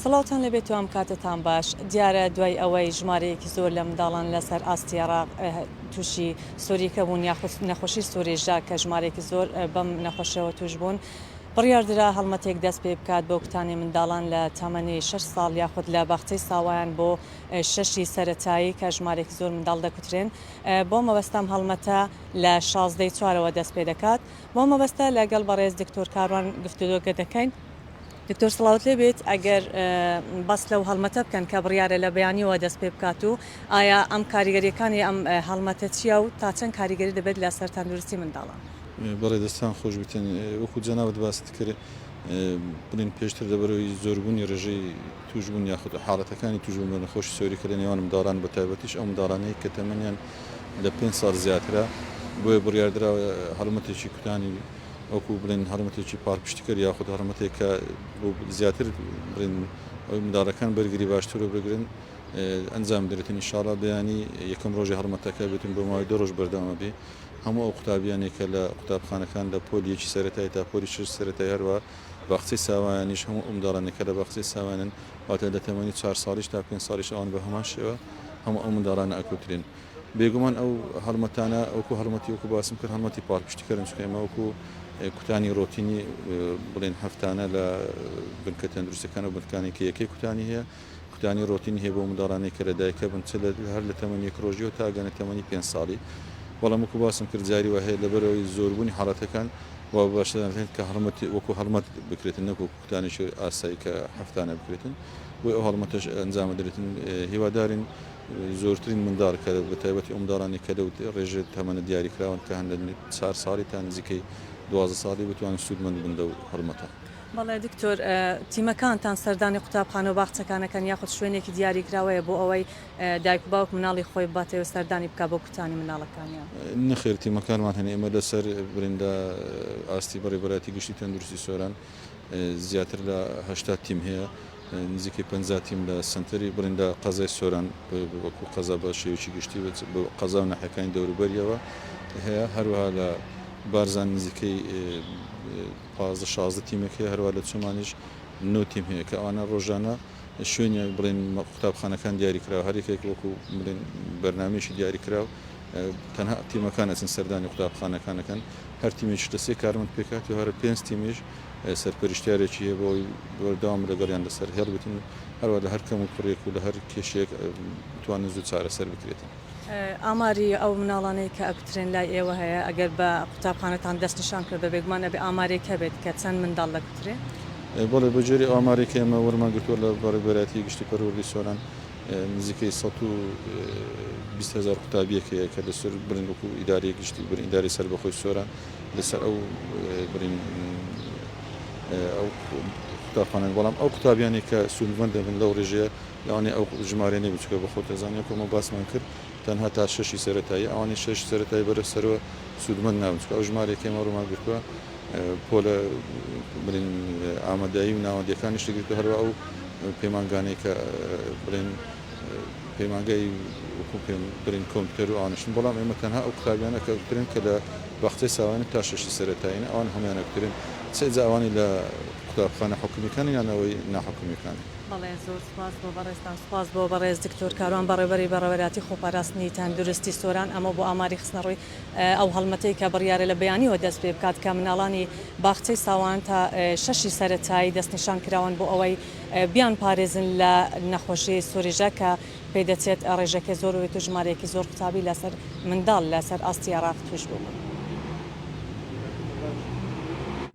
سڵاوتان لەبێت و ئەم کاتەتان باش دیارە دوای ئەوەی ژمارەیەکی زۆر لە منداڵان لەسەر ئاستی عراق تووشی سووریکە بوون یاخود نەخۆشی سوورێژدا کە ژمارێکی زۆر بەم نەخۆشەوە توش بوون بڕیاردرا هەڵمەتێک دەستپێبکات بۆ کوتانێ منداڵان لە تەمەنی شەش ساڵ یاخود لە باخچەی ساوایان بۆ شەشی سەرەتایی کە ژمارێکی زۆر منداڵ دەکوترێن بەو مەبەستەم هەڵمەتە لە شازدەی چوارەوە دەستپێدەکات بەو مەبەستە لە گەڵ بەڕێز دکتۆر کاروان گفتوگە دەکەین دکتۆر سڵاوت لێ بێت ئەگەر بەس لەو هەڵمەتە بکەن کە بڕیارە لە بەیانیەوە دەست پێ بکات و ئایا ئەم کاریگەریەکانی ئەم هەڵمەتە چیە و تا چەند کاریگەری دەبێت لەسەر تەندروستی منداڵان بەڵێ دەستان خۆش بێتن وەکو جەنابت باست کرد بڵین پێشتر دەبەرەوەی زۆربوونی ڕێژەی توشبوون یاخود حاڵەتەکانی توشبوون بە نەخۆشی سۆری کە لە نێوان منداڵان بە تایبەتیش ئەو منداڵانەی کە تەمەنیان لە پێنج ساڵ زیاترە بۆیە بڕیاردراوە هەڵمەتێکی کوتانی وەکو بڵێن هەڵمەتێکی پاڵپشتیکەر یاخود هەڵمەتێک کە بۆ زیاتر بڵێن ئەوی منداڵەکان بەرگری باشتر و بگرن ئەنجام درێتن ئینشاڵا بەیانی یەکەم ڕۆژی هەڵمەتەکە بێتن بۆ ماوەی دە ڕۆژ بەردەوامە بێ هەموو ئەو قوتابیانەی کە لە قوتابخانەکان لە پۆلی یەکی سەرەتای تا پۆلی شەشی سەرەتای هەروا باخچەی ساوایانیش هەموو ئەو منداڵانەی کە لە باخچەی ساوایانن واتە لە تەمەنی چار ساڵیش تا پێنج ساڵیش ئەوان بە هەمان شێوە هەموو ئەو منداڵانە ئەکوترێن بێگومان ئەو هەڵمەتانە ئەوکو هەڵمەتی وەکو باسم کرد هەڵمەتی پاڵپشتیکەرن چکە ئێمە وەکو کوتانی ڕۆتینی بڵێن هەفتانە لە بنکە تەندروستەکان و بنکانێکی یەکەی کوتانی هەیە کوتانی ڕۆتینی هەیە بەو منداڵانەی کە لە دایکە بن چ لە هەر لە تەمەنی یەک ڕۆژیەوە تا گەنە تەمەنی پێنج ساڵی بەڵام وەکو باسم کرد جاری وا هەیە لەبەرئەوەی زۆربوونی حاڵەتەکان وا باشتر دەزانرێن کە هەڵمەت وەکو هەڵمەت بکرێتن نەک وەکو کوتانێکی ئاسایی کە هەفتانە بکرێتن بۆی ئەو هەڵمەتەش ئەنجام بدرێتن هیوادارین زۆرترین منداڵ کە بە تایبەتی ئەو منداڵانی کە لەو ڕێژێ تەمەنە دیاریکراون کە هەن لە چوار ساڵی تا نزیکەی دوازدە ساڵی بتوانن سوودمەند بن لەو هەڵمەتە. بەڵێ دکتۆر، تیمەکانتان سەردانی قوتابخانە و باخچەکان ئەکەن یاخود شوێنێکی دیاریکراوەیە بۆ ئەوەی دایک و باوک منداڵی خۆی بباتێ و سەردانی بکا بۆ کوتانی منداڵەکانیان؟ نەخێر تیمەکانمان هەن، ئێمە لەسەر بریندا ئاستی بەڕێوبەرایەتی گشتی تەندروستی سۆران زیاتر لە هەشتا تیم هەیە، نزیکەی پەنجا تیم لە سەنتەری بریندا قەزای سۆران وەکو قەزا بە شێوەیەکی گشتی بە قەزا و ناحیەکانی دەوروبەریەوە هەیە، هەروەها لە بارزان نزیکەی. پازدە شازدە تیمێک هەیە، هەروا لە چۆمانیش نۆ تیم هەیە کە ئەوانە ڕۆژانە شوێنیان بڵێن قوتابخانەکان دیاری کراوە هەر یەکێک وەکو بڵێن بەرنامەیەکی دیاری کراو تەنها تیمەکان ئەچن سەردانی قوتابخانەکان ئەکەن هەر تیمێکیش لە سێ کارمەند پێکهاتوو هەرە پێنج تیمیش سەرپەرشتیارێکی هەیە بۆی بەردەوام لەگەڵیان لەسەر هێڵ بتن و هەروە لە هەر کەم و کوڕێک و لە هەر کێشێک بتوانن زوو چارەسەر بکرێتن. ئاماری ئەو مناڵانەی کە ئەکوترێن لای ئێوە هەیە؟ ئەگەر بە قوتابخانەتان دەست نیشان کرد بە بێگومان ئەبێ ئامارێک هەبێت کە چەند منداڵ دەکوترێ؟ بەڵێ بە جۆری ئامارێک کە ئێمە وەرمان گرتووە لە بەڕێوبەرایەتی گشتی پەروەردەی سۆران نزیکەی سەد و بیست هەزار قوتابیەک هەیە کە لە سەر برین وەکو ئیدارەی گشتی برین ئیدارەی سەربەخۆی سۆران لە سەر ئەو برین ئەو قوتابخانەن بەڵام ئەو قوتابیانی کە سوودمەند دەبن لەو ڕێژەیە لەوانەیە ئەو ژمارەیە نەبێت چونکە بە خۆت ئەزانی وەکو ئەمە باسمان کرد تەنها تا شەشی سەرەتاییە ئەوانەی شەشی سەرەتایی بەرە سەرەوە سوودمەند نابن چونکە ئەو ژمارەیە کە ئێمە ڕوومان گرتووە پۆلە بڵێن ئامادەیی و ناوەندیەکانیش گرتووە هەروە ئەو پەیمانگانەی کە بڵێن پەیمانگای وەکو پێم بڵێن کۆمپیوتەر و ئانشن بەڵام ئێمە تەنها ئەو قوتابیانە کە بکرێن کە لە باخچەی ساوایانە تا شەشی سەرەتایین ئەوان هەمویانە بکرێن چ ئێجا ئەوانی لە قوتابخانە حکومیەکانی یان ئەوەی ناحکومیەکانی بەڵێ زۆر سوپاس بۆ بەڕێزتان. سوپاس بۆ بەڕێز دکتۆر کاروان بەڕێوەبەری بەڕێوەراتی خۆپاراستنی تەندروستی سۆران ئەمەو بۆ ئاماری خستنەڕووی ئەو هەڵمەتەی کە بڕیارە لە بەیانیەوە دەست پێ بکات کە مناڵانی باخچەی ساوان تا شەشی سەرەتایی دەستنیشان کراون بۆ ئەوەی بیان پارێزن لە نەخۆشی سوریژە کە پێ دەچێت ڕێژەکەی زۆر ببێت و ژمارەیەکی زۆر قوتابی لە سەر منداڵ لە سەر ئاستی عێراق تووش ببوون.